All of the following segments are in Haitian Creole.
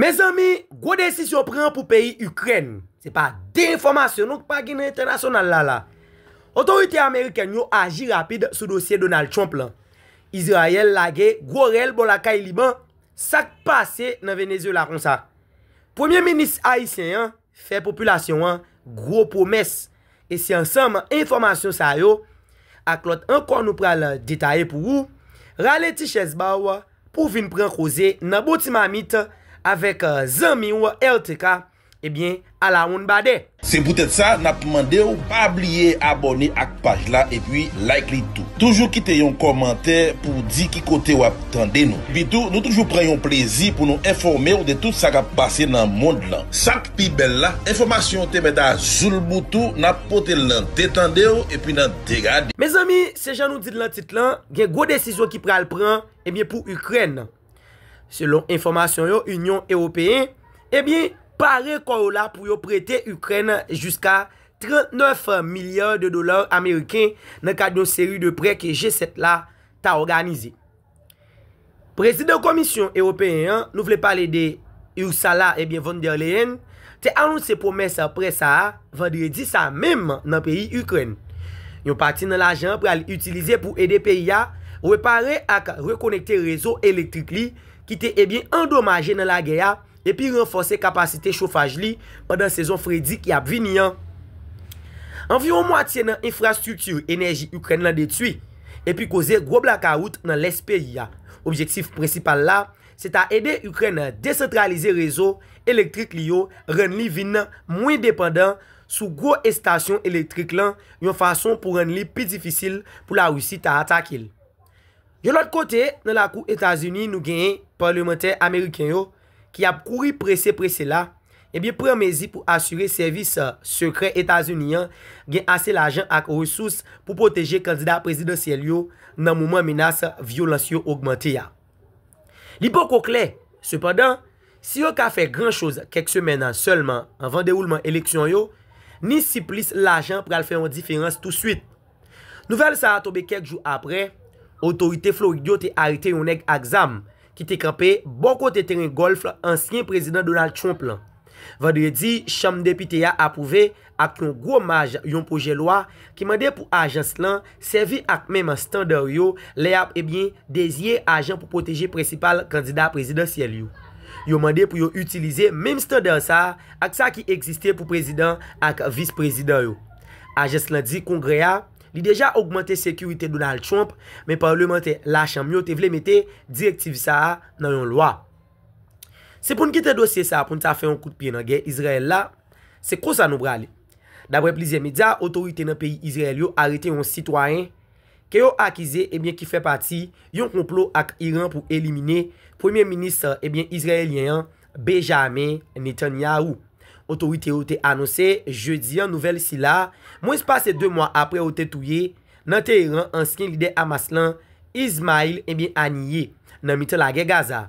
Mezanmi gwo desizyon pran pou peyi Ikrèn. Se pa de enfòmasyon non k pa gen nan entènasyonal la la. Otorite amerikèn yo aji rapid sou dosye Donald Trump lan. Izrayèl lage gwo rèl bò lakay Liban, sa k pase nan Venezuela konsa? Premye minis ayisyen an, fè popilasyon an gwo pwomès e se ansanm enfòmasyon sa yo ak lòt ankò nou pral detaye pou ou, rale ti chèz ba w pou w vin pran koze nan bon ti mamit avèk zanmi w RTK, ebyen alawonnbadè. Se poutèt sa nap mande w pa bliye abòne ak paj la epi like li tou. Toujou kite yon kòmantè pou w di ki kote w ap. tande nou. Epitou, nou toujou pran yon plezi pou nou enfòme w de tout sa k ap pase nan mond lan. Sa k pi bèl la, enfòmasyon yo te mèt a zoulboutou, n ap pote l nan de tande w epi nan de gade w. Mezanmi, se jan nou di l nan tit lan, gen gwo desizyon ki pral pran, ebyen pou Ikrèn. Selon enfòmasyon yo, Inyon Ewopeyen, ebyen, pare kò yo la pou yo prete Ikrèn jiska 39 milya de dola ameriken nan kad yon seri de prè ke G7 la ta òganize. Prezidan Komisyon Ewopeyen an, nou vle pale de Ursula ebyen von der Leyen, te anonse pwomès prè sa a vandredi sa a menm nan peyi Ikrèn. Yon pati nan lajan an pral itilize pou ede peyi a repare ak rekonekte rezo elektrik li ki te ebyen andomaje nan lagè a epi ranfòse kapasite chofaj li pandan sezon fredi ki ap vini an. Anviwon mwatye nan enfrastrikti enèji Ikrèn lan detwi, epi koze gwo blakawout nan lès peyi a. Objektif prensipal la se ta ede Ikrèn desantralize rezo elektrik li yo, rann li vin mwen depandan sou gwo estasyon elektrik lan yon fason pou rann li pi difisil pou Larisi ta atake l. Yon lòt kote, nan lakou Etazini nou genyen palmantè ameriken yo ki ap kouri prese prese la, ebyen pran mezi pou asire sèvis sekrè Etazini an gen ase lajan ak resous pou pwoteje kandida prezidansyèl yo nan moman menas vyolans yo ogmante a. Li poko klè, sepandan, si yo ka fè gran choz kèk semèn sèlman anvan dewoulman eleksyon yo, ni si plis lajan pral fè yon diferans touswit. Nouvèl sa a tonbe kèk jou aprè otorite Florid yo te arete yon nèg ak zam ki te kanpe bò kote teren gòlf ansyen Prezidan Donald Trump lan. Vandredi, Chanm Depite a apwouve ak yon gwo maj yon pwojè lwa ki mande pou ajans lan sèvi ak menm standar yo lè y ap deziye ajan pou pwoteje prensipal kandida prezidansyèl yo. Yo mande pou yo itilize menm standar sa a ak sa ki egziste pou prezidan ak vis-prezidan yo. Ajans lan di Kongrè a li deja ogmante sekirite Donald Trump, men palmantè Lachanm yo te vle mete direktiv sa a nan yon lwa. Se pou n kite dosye sa a pou n ta fè yon kout pye nan gè Izrayèl la, se konsa nou prale. Daprè plizyè medya, otorite nan peyi Izrayèl yo arete yon sitwayen ke yo akize ebyen ki fè pati yon konplo ak Iran pou elimine Premye Minis ebyen Izrayelyen an Bejame Netanyahou. Otorite yo te anonse Jedi an nouvèl sila mwens pase 2 mwa apre yo te touye nan Teheran ansyen lidè Hamas lan Ismail ebyen Haniyeh nan mitan lagè Gaza.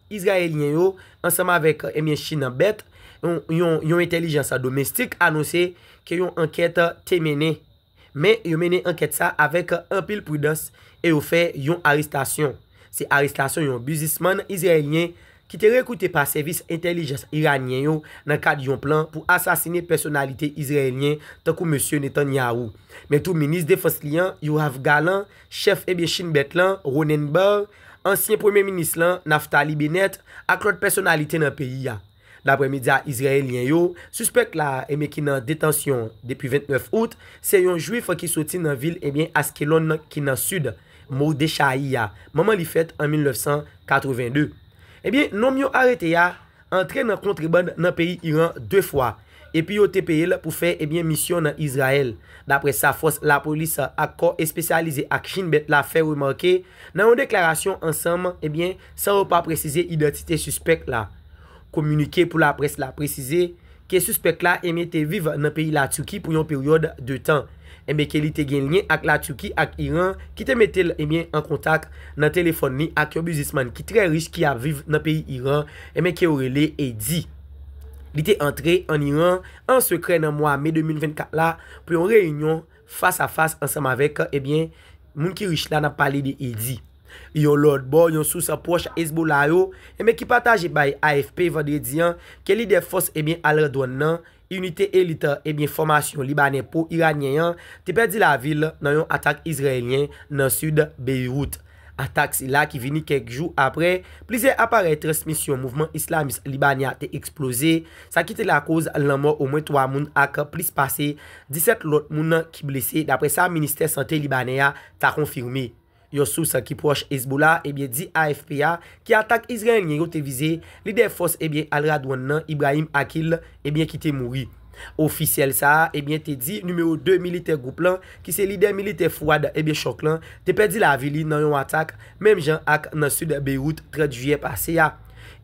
Izrayelyen yo, ansanm avèk ebyen Chine an bèt, yon entèlijans domestik anonse ke yon ankèt te mennen. Men yo mennen ankèt sa avèk anpil pridans e yo fè yon arestasyon. Se arestasyon yon bizismann izrayelyen ki te rekrite pa sèvis entèlijans iranyen yo nan kad yon plan pou asasine pèsonalite izrayelyen tankou Mesye Netanyahu, men tou minis defans li an, Yoav Gallant, Chèf ebyen Shin Bet lan, Ronnen Bar, ansyen premye minis lan, Naftali Bennett, ak lòt pèsonalite nan peyi a. Daprè medya izrayelyen yo, sispèk la ebyen ki nan detansyon depi 29 out, se yon jwif ki soti nan vil ebyen Askelon ki nan sid Mordechayi a, manman li fèt an 1982. Ebyen nonm yo arete a, antre nan kontreband nan peyi Iran 2 fwa epi yo te peye l pou fè ebyen misyon nan Izrayèl, daprè sa fòs lapolis ak kò espesyalize ak Shin Bet la fè remake nan yon deklarasyon ansanm ebyen san yo pa presize idantite sispèk la. Kominike pou laprès la presize ke sispèk la enben te viv nan peyi La Turquie pou yon peryòd de tan, enben ke li te gen lyen ak La Turquie ak Iran ki te mete l enben an kontak nan telefòn li ak yon biznisman ki trè rich ki ap viv nan peyi Iran enben ke yo rele Eddy. Li te antre an Iran an sekrè nan mwa me 2024 la pou yon reyinyon Fas a fas ansanm avèk, ebyen, moun ki rich la, n ap pale de Eddy. Yon lòt bò, yon sous pwòch Hezbollah yo, ebyen, ki pataje bay AFP vandredi an, ke lidè fòs, ebyen, al-Radwan nan, Inite Elit, ebyen, fòmasyon Libanè pwo-Iranyen an, te pèdi lavi l nan yon atak Izrayelyen nan sid Beyrouth. Atak sila ki vini kèk jou aprè plizyè aparèy transmisyon mouvman islamis Libani a te eksploze, sa ki te lakoz lanmò omwen 3 moun ak plis pase 17 lòt moun ki blese daprè sa ministè sante libanè a ta konfime. Yon sous ki pwòch Hezbollah ebyen di AFP a ki atak Izrayelyen yo te vize lidè fòs ebyen Al-Radwan nan, Ibrahim Aqil, ebyen ki te mouri. Ofisyèl sa a ebyen te di nimewo 2 militè gwoup lan ki se lidè militè Fouad ebyen Chòk lan te pèdi lavi li nan yon atak menm jan ak nan sid Beyrout 30 jiyè pase a.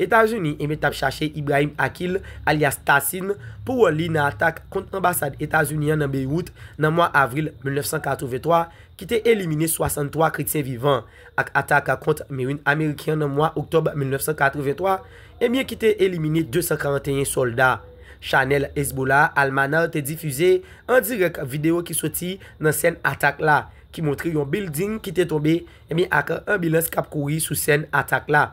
Etazini ebyen tap chache Ibrahim Akil alyas Tassin pou wòl li nan atak kont anbasad Etazini an nan Beyrout nan mwa avril 1983 ki te elimine 63 kretyen vivan. ak atak kont Merin Ameriken an nan mwa Oktòb 1983, ebyen ki te elimine 241 sòlda. Chanèl Hezbollah Al-Manar te difize an dirèk videyo ki soti nan sèn atak la, ki montre yon bilding ki te tonbe ebyen ak anbilans k ap kouri sou sèn atak la.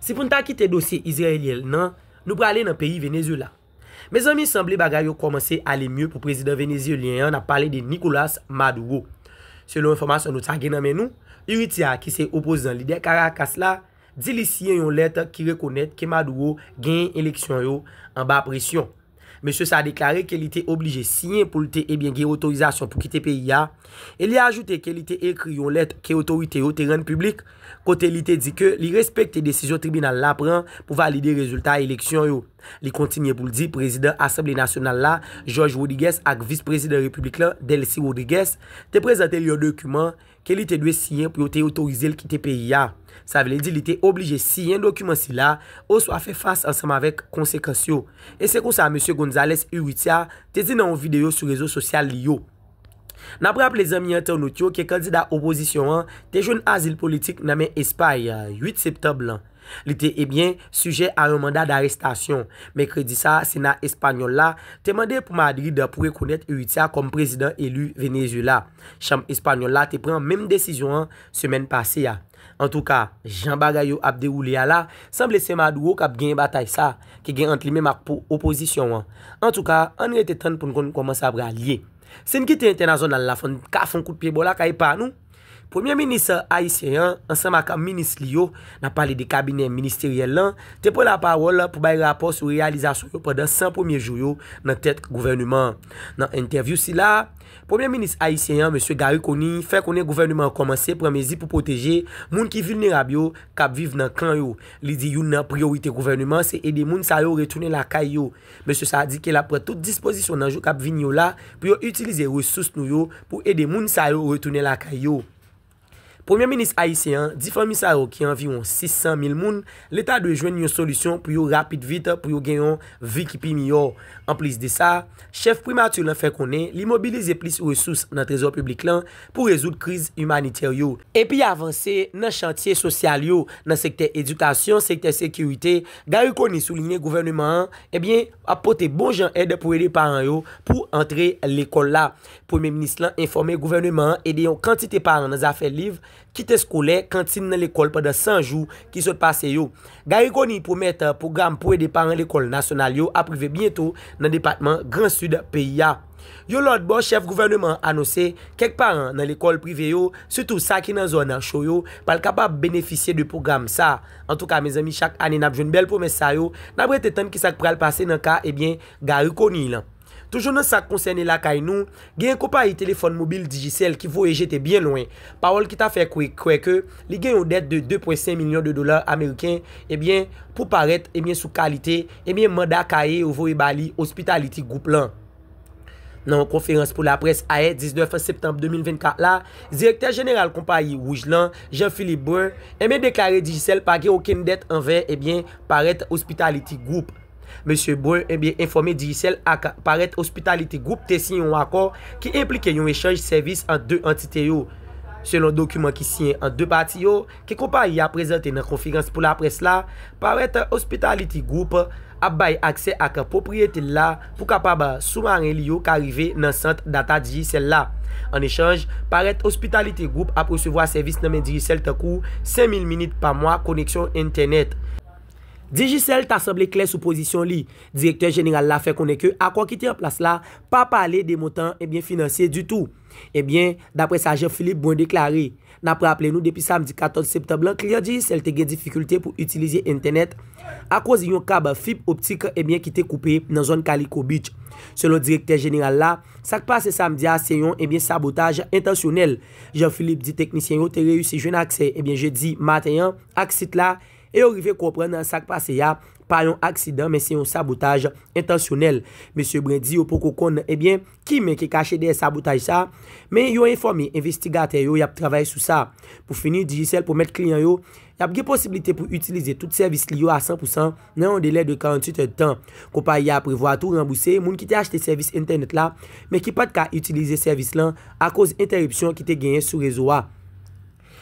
Si pou n ta kite dosye Izrayelyen nan, nou prale nan peyi Venezuela. Mezanmi sanble bagay yo kòmanse ale mye pou prezidan venezyelyen an, n ap pale de Nicolas Maduro. Selon enfòmasyon nou sa gen nan men nou, Urrutia ki se opozan lidè Karakas la, di li siyen yon lèt ki rekonèt ke Maduro genyen eleksyon yo anba presyon. Mesye sa deklare ke li te oblije siyen pou l te ebyen gen otorizasyon pou kite peyi a, e li ajoute ke li te ekri yon lèt ke otorite yo te rann piblik. kote li te di ke li respekte desizyon tribinal la pran pou valide rezilta eleksyon yo. Li kontinye pou l di prezidan Asanble Nasyonal la, George Rodrigues ak vis prezidan repiblik la, Delcy Rodrigues, te prezante l yon dokiman ke li te dwe siyen pou yo te otorize l kite peyi a. Sa vle di li te oblije siyen dokiman sila oswa fè fas ansanm avèk konsekans yo. E se konsa Mesye Gonzalez Urrutia te di nan yon videyo sou rezo sosyal li yo. N ap raple zanmi entènot yo ke kandida opozisyon an te jwenn azil politik nan men Espay 8 septanb lan. Li te ebyen sijè a yon manda darestasyon. Mèkredi sa a Sena espanyòl la te mande pou Madrid pou rekonèt Urrutia kòm prezidan eli Venezuela. Chanm espanyòl la te pran menm desizyon an semèn pase a. Antouka, jan bagay yo ap dewoule a la, sanble se Maduro k ap genyen batay sa a ki gen ant li menm ak opozisyon an. Antouka, ann rete tann pou n konn kòman sa pral ye. Si n kite entènazonal la fò n ka fon kout pye bò lakay pa nou. Premye minis ayisyen an ansanm ak minis li yo, n ap pale de kabinè ministeryèl lan, te pran lapawòl pou bay rapò sou reyalizasyon yo pandan 100 premye jou yo nan tèt gouvèneman an. Nan entèvyou sila a, Premye Minis ayisyen an, Mesye Garry Conille, fè konnen gouvèneman an kòmanse pran mezi pou pwoteje moun ki vilnerab yo k ap viv nan kan yo. Li di youn nan priyorite gouvèneman an se ede moun sa yo retounen lakay yo. Mesye sa a di ke l ap pran tout dispozisyon nan jou k ap vini yo la pou yo itilize resous nou yo pou ede moun sa yo retounen lakay yo. Premye minis ayisyen an di fanmi sa yo ki anviwon 600 mil moun, leta dwe jwenn yon solisyon pou yo rapid vit pou yo gen yon vi ki pi miyò. Anplis de sa, chèf primati lan fè konnen li mobilize plis resous nan trezò piblik lan pou rezoud kriz imanitè yo, epi avanse nan chantye sosyal yo, nan sektè edikasyon, sektè sekirite, Garry Conille soulinye gouvèneman an, ebyen, ap pote bon jan èd pou ede paran yo pou antre lekòl la. Premye minis lan enfòme gouvèneman an ede yon kantite paran nan zafè liv, kit eskolè, kantin nan lekòl pandan 100 jou ki sot pase yo. Garry Conille pwomèt pwogram pou ede paran lekòl nasyonal yo ap rive byento nan depatman Gran Sid peyi a. Yon lòt bò, chèf gouvèneman an anonse kèk paran nan lekòl prive yo, sitou sa ki nan zòn cho yo, pral kapab benefisye de pwogram sa. Antouka mezanmi chak ane n ap jwenn bèl pwomès sa yo, n ap rete tann ki sa k pral pase nan ka, ebyen, Garry Conille lan. Toujou nan sa k konsène lakay nou, genyen konpayi telefòn mobil Digicel ki voye jete byen lwen pawòl ki ta fè kwè ke li gen yon dèt de 2 pwen 5 milyon de dola ameriken ebyen pou parèt ebyen sou kalite ebyen manda kaye yo voye ba li Hospitality Group lan. Nan yon konferans pou laprès ayè 19 septanm 2024 la, direktè jeneral konpayi Wouj lan, Jean Philippe Brun, ebyen deklare Digicel pa gen okenn dèt anvè ebyen parèt Hospitality Group. Mesye Brun ebyen enfòme Digicel ak Parrett Hospitality Group te siyen yon akò ki enplike yon echanj sèvis ant 2 antite yo. Selon dokiman ki siyen ant 2 pati yo, ke konpayi a prezante nan konferans pou laprès la, Parrett Hospitality Group ap bay aksè ak pwopriyete l la pou kapab soumaren li yo ka rive nan sant data Digicel la. An echanj, Parrett Hospitality Group ap resevwa sèvis nan men Digicel tankou 5000 minit pa mwa koneksyon entènèt, Digicel ta sanble klè sou pozisyon li. Direktè jeneral la fè konnen ke akò ki te an plas la pa pale de montan ebyen finansye ditou. Ebyen, daprè sa Jean Philippe Brun deklare, N ap raple nou depi samdi 14 septanm lan kliyan Digicel te gen difikilte pou itilize entènèt akoz yon kab fib optik ebyen ki te koupe nan zòn Kaliko Beach. Selon direktè jeneral la, sa k pase samdi a se yon ebyen sabotaj entansyonèl. Jean Philippe di teknisyen yo te reyisi jwenn aksè ebyen jedi maten an ak sit la, e yo rive konprann sa k pase a pa yon aksidan men se yon sabotaj entansyonèl. Mesye Brun di yo poko konn ebyen ki men ki kache dèyè sabotaj sa men yo enfòme envestigatè yo y ap travay sou sa. Pou fini, Digicel pwomèt kliyan yo y ap gen posiblite pou itilize tout sèvis li yo a 100 pousan nan yon delè de 48 èdtan. Konpayi a prevwa tou ranbouse moun ki te achte sèvis entènèt la men ki pat ka itilize sèvis lan akoz entèripsyon ki te genyen sou rezo a.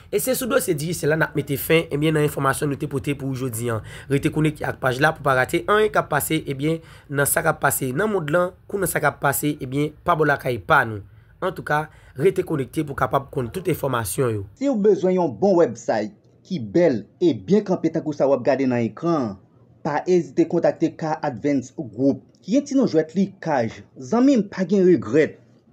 E se sou dosye Digicel la nap mete fen ebyen nan enfòmasyon nou te pote pou ou jodi an. Rete konekte ak paj la pou pa rate anyen kap pase ebyen nan sa kap pase nan mond lan kou nan sa kap pase ebyen pa bò lakay pa nou. Antouka, rete konekte pou kapab konn tout enfòmasyon yo. Siw bezwen yon bon website ki bèl e byen kanpe tankou sa wap gade nan ekran an, pa ezite kontakte K-Advance Group ki gen ti non jwèt li Kaj. Zanmim pa gen regrèt!